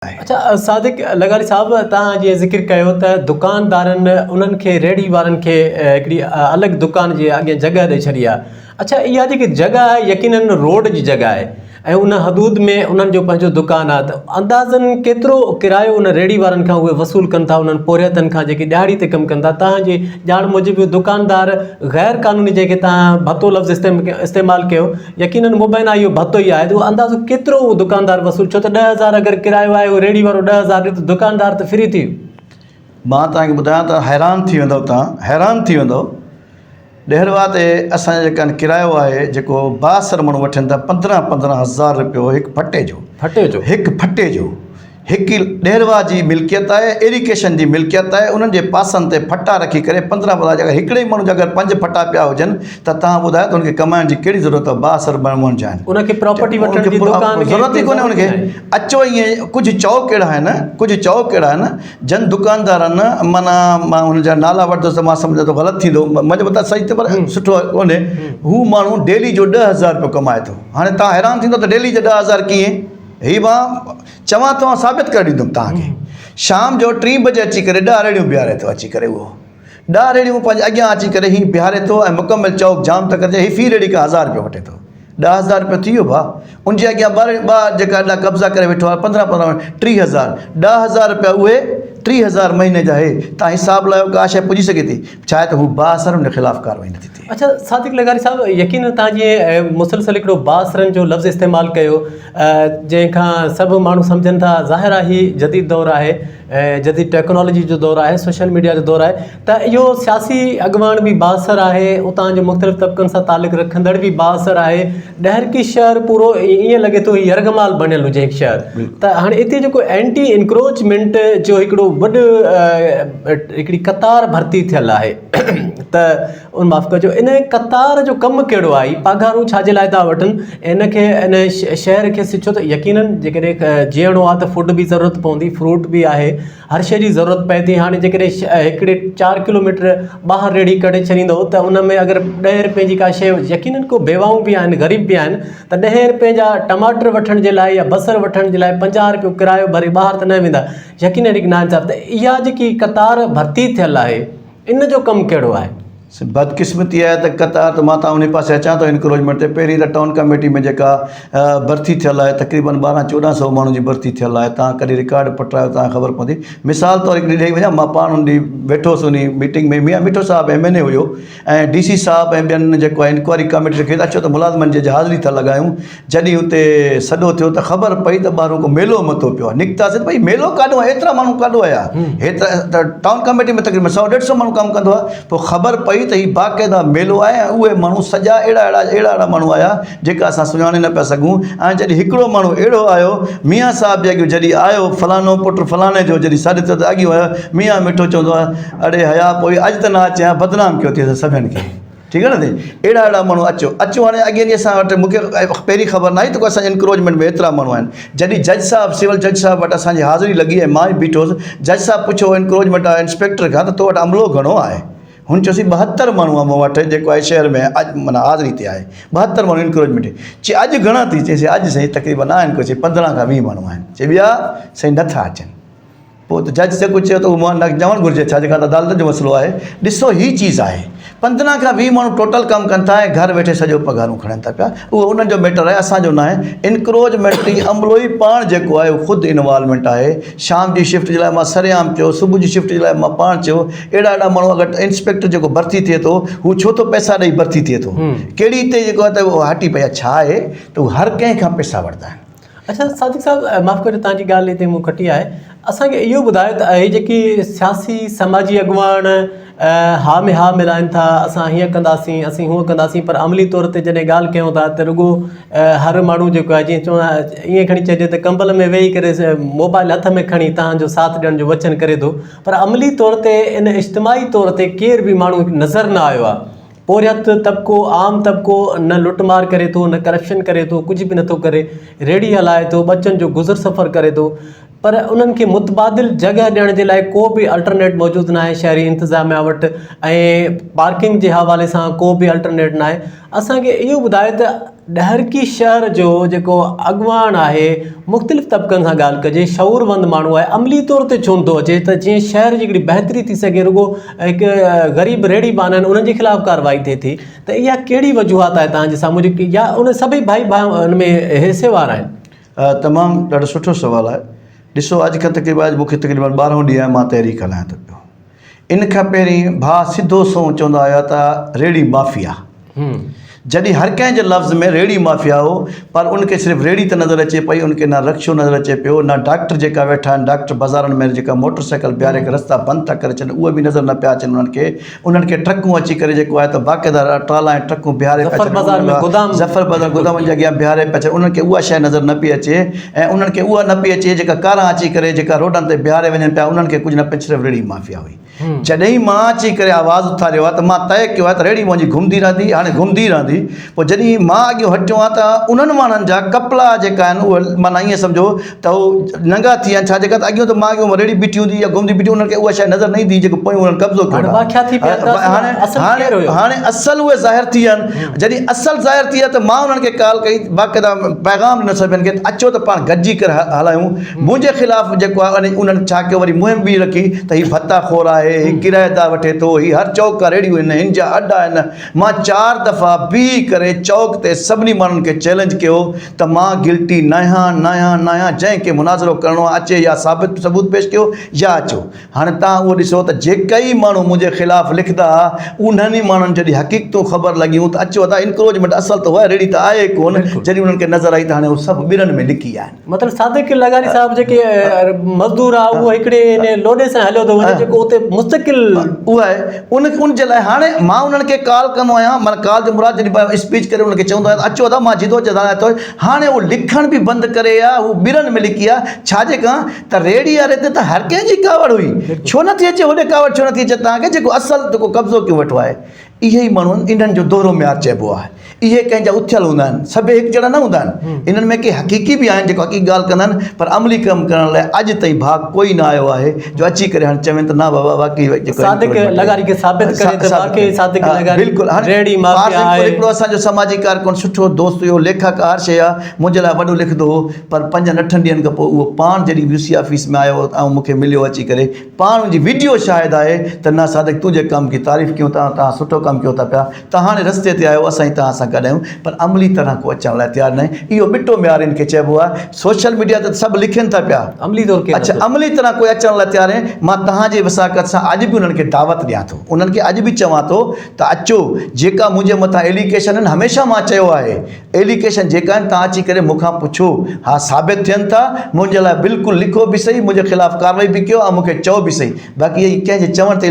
آهي. اچا صادق لغاري صاحب توهان جي ذڪر ڪيو ته دڪاندارن انهن کي ريڙهي وارن کي هڪڙي الڳ دڪان جي اڳين جڳهه ڏئي ڇڏي آهي اچا اها جيڪي جڳهه آهي يقينن روڊ جي جڳهه آهي ۽ ان حدود ۾ انهن جو پنهنجو دڪان آهي ته اندازن ڪيترو ڪرايو ان ريڙهي وارن کان اهي وصول ڪن ٿا انهن پورهيتن کان جيڪي ڏهاڙي تي ڪم ڪن ٿا توهان جي ڄاڻ موجب دڪاندار غير قانوني جنهن کي توهان ڀتو لفظ استعمال ڪيو يقينن مبينا اهو ڀتو ئي آهي ته اهو اندازو ڪيترو اهو دڪاندار وصول ڇو ته ڏهه هزار اگر ڪرايو آهي اهو ريڙهي وارو ڏهه هزار ڏي ته دڪاندار ته فري ٿي ويو مان توهان کي ٻڌايان ته حيران ٿي ويندؤ توهان حيران ٿي ويندؤ ڏهرواد تي اسان جو جيڪا ڪرايو آهي جيڪو بااثر ماڻهو وٺن ٿا پندرهن پندرهن هزار رپيو هڪ ڦٽي جو ڦٽي جو هڪ ڦٽي جو هڪ ئي ڏيرواء جي ملڪيت آهي ايري ڪيشن جي ملڪيت آهي انهن جي پاسن تي ڦٽا رکي ڪري پندرهن ٻڌا جيڪر هڪڙي ئي ماڻهو جا اگر پنج ڦٽا پيا هجن ته تهان ٻڌايو ته هن کي ڪمائڻ جي ڪهڙي ضرورت آهي بااثر ماڻهن جا آهن ان کي پراپرٽي وٺڻ جي دڪان کي ضرورت ئي ڪونهي ان کي اچو ائين ڪجهه چئو ڪهڙا آهن ڪجهه چئو ڪهڙا آهن جن دڪاندارن معنيٰ مان هن جا نالا وٺندس ته مان سمجهان ٿو غلط ٿيندو منهنجو مطلب سهي پر سٺو ڪونهي هو ماڻهو ڊيلي جو ڏهه هزار رپيو ڪمائي ٿو هاڻي تهان حيران ٿيندو ته ڊيلي جا ڏهه هزار ڪيئن هي مان چوان ٿو آئون ثابت ڪري ڏيندم توهان کي شام جو ٽين بجي اچي ڪري ڏهه ريڙهيون بيهاري ٿو اچي ڪري اهو ڏهه ريڙهيون پنهنجي اڳيان اچي ڪري هي بيهاري ٿو ۽ مڪمل چوڪ جام ٿا ڪرجي هي في ريڙهي کان هزار رپيو وٺي ٿو ڏهه هزار رپيو ٿي ويو ڀاء ان جي اڳيان ٻه ٻه جيڪا اڏا قبضا ڪري ويٺو آهي پندرهن پندرهن ٽي هزار ڏهه هزار رپيا اهي ٽي هزار مهيني جا اهي تان حساب لايو ڪا شي پڄي سگهي ٿي ڇا آهي ته هو بااثر ان خلاف ڪاروائي نٿي ٿئي. اڇا صادق لغاري صاحب يقينن توهان جي مسلسل هڪڙو بااثرن جو لفظ استعمال ڪيو جنهن کان سڀ ماڻهو سمجهن ٿا ظاهر آهي هي جديد دور آهي جديد ٽيڪنالوجي جو دور آهي سوشل ميڊيا جو دور آهي ته اهو سياسي اڳواڻ به بااثر آهي اتان جي مختلف طبقن سان تعلق رکندڙ به بااثر آهي ڏهرڪي شهر پورو ائين لڳي ٿو هي يرغمال بڻيل هجي هڪ شهر ته هاڻي اتي جيڪو اينٽي انڪروچمينٽ جو هڪڙو وڏ هڪڙي قطار ڀرتي ٿيل آهي ته ان معاف ڪجو ان قطار جو ڪم ڪهڙو آهي پگهارون ڇا جي لاء ٿا وٺن ان کي ان شهر کي سچو ته يقيناً جيڪڏهن جيئڻو آهي ته فوڊ بي ضرورت پوندي فروٽ بي آهي هر شي جي ضرورت پئي ٿي هاڻي جيڪڏهن شهر هڪڙي چار ڪلو ميٽر ٻاهر ريڙهي ڪڍي ڇڏيندو ته ان ۾ اگر ڏهين رپئي جي ڪا شي يقيناً ڪو بيواهون بي آهن غريب بي آهن ته ڏهين رپئي جا ٽماٽر وٺڻ جي لاء يا بصر وٺڻ جي لاء پنجاهه رپيو ڪرايو ڀري ٻاهر ته نه ويندا يقين اهڙي ناهي صاحب ته اها جيڪي قطار ڀرتي ٿيل آهي ان جو ڪم ڪهڙو آهي؟ سي بدقسمتي آهي ته قطار ته مان تان انهي پاسي اچان ٿو انڪروچمينٽ تي پهرين ته ٽائون ڪميٽي ۾ جيڪا ڀرتي ٿيل آهي تقريبن ٻارهن چوڏهن سئو ماڻهن جي ڀرتي ٿيل آهي تان ڪڏهن رڪارڊ پٽرايو تان خبر پوندي مثال طور هڪڙي ڏئي وڃان مان پاڻ ان ڏينهن ويٺو هوس انهي meeting ۾ Mian Mithu Sahib M N A هيو ۽ ڊي سي صاحب ۽ ٻين جيڪو آهي انڪوائري ڪاميٽي کي اچو ته ملازمن جي حاضري ٿا لڳايون جڏهن اتي سڏو ٿيو ته خبر پئي ته ٻاهرون ڪو ميلو مٿو پيو آهي نڪتاسين ته ڀئي ميلو ڪاڏو آهي ايترا ماڻهو ڪاڏو آيا ايترا ته ٽائون ڪاميٽي ۾ تقريبن سؤ ڏيڍ سؤ ماڻهو ڪم ڪندو آهي پوء خبر پئي ته هي باقاعده ميلو آهي ۽ اهي ماڻهو سڄا اهڙا اهڙا اهڙا اهڙا ماڻهو آيا جيڪا اسان سڃاڻي نه پيا سگهون ۽ جڏهن هڪڙو ماڻهو اهڙو آيو ميان صاحب جي اڳيون جڏهن آيو فلانو پٽ فلاني جو جڏهن سڏ ٿيو ته اڳيون آيو ميان مٺو چوندو آهي اڙي حياء پوئي اڄ ته نه اچ ها بدنام ڪيو ٿئي سڀن کي ٺيڪ آ نه سائين اهڙا اهڙا ماڻهو اچو اچو هاڻي اڳي ڏينهن اسان وٽ مونکي پهرين خبر ناهي ته اسان جي انڪروچمينٽ ۾ ايترا ماڻهو آهن جڏهن جج صاحب سول جج صاحب وٽ اسان جي حاضري لڳي ۽ مان ئي بيٺو هوس جج صاحب پڇيو انڪروچمينٽ واري انسپيڪٽر کان ته تو وٽ عملو گهڻو آهي هن چيوسي ٻهتر ماڻهو آهي مون وٽ جيڪو آهي شهر ۾ اڄ معنيٰ حاضري تي آهي ٻهتر ماڻهو انڪروچمينٽ چي اڄ گهڻا ٿي چيسي اڄ سائين تقريبن آهن ڪو چي پندرهن کان ويهه ماڻهو آهن چي ٻيا سائين نٿا اچن پوء ته جج جيڪو چيو ته اهو مون نه چوڻ گهرجي ڇا جيڪا ته عدالتن جو مسئلو آهي. ڏسو هي چيز آهي پندرهن کان ويهه ماڻهو ٽوٽل ڪم ڪن ٿا ۽ گهر ويٺي سڄو پگهارون کڻن ٿا پيا اهو انهن جو ميٽر آهي اسان جو ناهي انڪروچمينٽ جي عملو ئي پاڻ جيڪو آهي اهو خود انوالومينٽ آهي شام جي شفٽ جي لاء مان سرعام چيو صبح جي شفٽ جي لاء مان پاڻ چيو اهڙا اهڙا ماڻهو اگر انسپيڪٽر جيڪو ڀرتي ٿئي ٿو هو ڇو ٿو پئسا ڏئي ڀرتي ٿئي ٿو ڪهڙي هتي جيڪو آهي ته اهو هٽي پئي ڇا آهي ته هو هر ڪنهن کان پئسا ورتا آهن اڇا صادق صاحب معاف ڪجو تنهنجي ڳالهه هتي مون ڪٽي آهي اسان کي اهو ٻڌايو ته اهي جيڪي سياسي سماجي اڳواڻ ها ۾ ها ملائن ٿا اسان هيئن ڪنداسين اسين هونئن ڪنداسين پر عملي طور تي جڏهن ڳالهه ڪيون ٿا ته رڳو هر ماڻهو جيڪو آهي جيئن چون ايئن کڻي چئجي ته ڪمبل ۾ ويهي ڪري موبائل هٿ ۾ کڻي تنهنجو ساٿ ڏيڻ جو وچن ڪري ٿو پر عملي طور تي ان اجتماعي طور تي ڪير به ماڻهو نظر نه آيو آهي پورهيت طبقو، عام طبقو، نه لٽ مار ڪري ٿو، نه ڪرپشن ڪري ٿو، ڪجهه به نٿو ڪري، ريڙهي هلائي ٿو، ٻچن جو گذر سفر ڪري ٿو پر انهن کي متبادل جڳهه ڏيڻ جي لاء ڪو به الٽرنيٽ موجود ناهي شهري انتظاميا وٽ ۽ پارڪنگ جي حوالي سان ڪو به الٽرنيٽ ناهي. اسان کي اهو ٻڌايو ته ڏهرڪي شهر جو جيڪو اڳواڻ آهي مختلف طبقن سان ڳالهه ڪجي شعور مند ماڻهو آهي عملي طور تي چونڊ ٿو اچي ته جيئن شهر جي هڪڙي بهتري ٿي سگهي رڳو هڪ غريب ريڙهي ٻانهن آهن انهن جي خلاف ڪارروائي ٿئي ٿي ته اها ڪهڙي وجوهات آهي تنهنجي سامهون جي يا ان سڀئي ڀائي ڀا ان ۾ حصي وار آهن. تمام ڏاڍو سٺو سوال آهي ڏسو اڄ کان تقريبن اڄ مونکي تقريبن ٻارهون ڏينهن آهي مان تحريڪ هلايان ٿو پيو ان کان پهرين ڀاء سڌو سنئون چوندا هيا ته ريڙهي مافيا. جڏهن هر ڪنهن جي لفظ ۾ ريڙهي مافيا هو پر ان کي صرف ريڙهي ته نظر اچي پئي ان کي نه رڪشو نظر اچي پيو نه ڊاڪٽر جيڪا ويٺا آهن ڊاڪٽر بازارن ۾ جيڪا موٽر سائيڪل بيهاري ڪري رستا بند ٿا ڪري ڇڏن اهي به نظر نه پيا اچن انهن کي انهن کي ٽرڪون اچي ڪري جيڪو آهي ته باقاعده ٽرالا ۽ ٽرڪون بيهاري پيا ڇڏن ظفر بازار ۾ گودام ظفر بازار گودامن جي اڳيان بيهاري پيا ڇڏن انهن کي اها شيء نظر نه پئي اچي ۽ انهن کي اها نه پئي اچي جيڪا ڪاران اچي ڪري جيڪا روڊن تي بيهاري وڃن پيا انهن کي ڪجهه نه پئي صرف ريڙهي مافيا هئي جڏهين مان اچي ڪري آواز اٿاريو آهي ته مان طئي ڪيو آهي ته ريڙهي منهنجي گهمندي رهندي هاڻي گهمندي رهندي پوء جڏهين مان اڳيون هٽيو آهيان ته انهن ماڻهن جا ڪپلا جيڪا آهن اهي معنيٰ ائين سمجهو ته هو ننگا ٿي ويا آهن ڇا جيڪا ته اڳيون ته مان اڳيون ريڙهي بيٺي هوندي يا گهمندي بيٺي انهن کي اها شيء نظر نه ايندي هئي جيڪو پويون انهن قبضو ڪيو هاڻي اصل اهي ظاهر ٿي ويا آهن جڏهن اصل ظاهر ٿي ويا ته مان انهن کي ڪال ڪئي باقاعده پيغام ڏنو سڀن کي ته اچو ته پاڻ گڏجي ڪري هلايون منهنجي خلاف جيڪو آهي انهن انهن ڇا ڪيو وري مهم ٻي رکي ته هي ڀتا خور آهي هي ڪرائيدار وٺي ٿو هي هر چوڪ کان ريڙهيون هن هن جا اڏا آهن مان چار دفعا بيهي ڪري چوڪ تي سڀني ماڻهن کي چئلينج ڪيو ته مان گلٽي ناهيان ناهيان ناهيان جنهن کي مناظرو ڪرڻو آهي اچي يا ثابت ثبوت پيش ڪيو يا اچو هاڻي توهان اهو ڏسو ته جيڪئي ماڻهو منهنجي خلاف لکندا ها، انهن ئي ماڻهن جڏهن حقيقتون خبر لڳيون ته اچيو ادا انڪروچمينٽ اصل ته هئا ريڙهي ته آهي ڪونه، بلڪل. جڏهن انهن کي نظر آئي ته هاڻي هو سڀ ٻرن ۾ لڪي آهن. مطلب صادق لغاري صاحب جيڪي مزدور آهي اهو هڪڙي ان لوڏي سان هليو ٿو وڃي جيڪو اتي مستقل اهو آهي ان ان جي لاء هاڻي مان انهن کي ڪال ڪندو آهيان معنيٰ ڪال جو مراد جڏهن به اسپيچ ڪري انهن کي چوندو آهيان ته اچو ادا مان جدوجھد هاڻي اٿو هاڻي هو لکڻ به بند ڪري يا هو ٻرن ۾ لڪي آ ڇاجي ڪان ته ريڙهي واري تي ته هر ڪنهن جي ڪاوڙ هئي، ڇو نٿي اچي هوڏي ڪاوڙ ڇو نٿي اچي توهان کي جيڪو اصل جيڪو قبضو ڪيو ويٺو آهي اهي ئي ماڻهو آهن انهن جو دوهرو معيار چئبو آهي اهي ڪنهن جا اٿيل هوندا آهن سڀئي هڪ جهڙا نه هوندا آهن انهن ۾ ڪي حقيقي به آهن جيڪو حقيقي ڳالهه ڪندا آهن پر عملي ڪم ڪرڻ لاء اڄ تائين ڀاڳ ڪوئي نه آيو آهي جو اچي ڪري هاڻي چون ته نه بابا واقعي جيڪو صادق لغاري کي ثابت ڪري ته واقعي صادق لغاري بلڪل هاڻي ريڙهي مافيا آهي هڪڙو اسان جو سماجي ڪارڪن سٺو دوست هيو ليکڪ هر شيء منهنجي لاء وڏو لکندو هو پر پنجن اٺن ڏينهن کان پوء اهو پاڻ جڏهن وي سي آفيس ۾ آيو ۽ مون کي مليو اچي ڪري پاڻ ان جي ويڊيو شاهد آهي ته نا صادق تنهنجي ڪم جي تعريف ڪيون ٿا توهان سٺو ڪم ڪيو ٿا پيا ته هاڻي رستي تي آهيو اسان جي توهان سان گڏ آهيون پر عملي طرح ڪو اچڻ لاء تيار ناهي اهو ٻٽو ميار ان کي چئبو آهي سوشل ميڊيا تي ته سڀ لکين ٿا پيا عملي طور ڪير اڇا نٿو عملي طرح ڪو اچڻ لاء تيار ناهي مان توهان جي وثاقت سان اڄ به انهن کي دعوت ڏيان ٿو انهن کي اڄ به چوان ٿو ته اچو جيڪا منهنجي مٿان ايليڪيشن آهن هميشه مان چيو آهي ايليگيشن جيڪا آهن توهان اچي ڪري مون کان پڇو ها ثابت ٿين ٿا منهنجي لاء بلڪل لکو به سهي منهنجي خلاف ڪارروائي به ڪيو ۽ مون کي چئو به سهي باقي هي ڪنهن جي چوڻ تي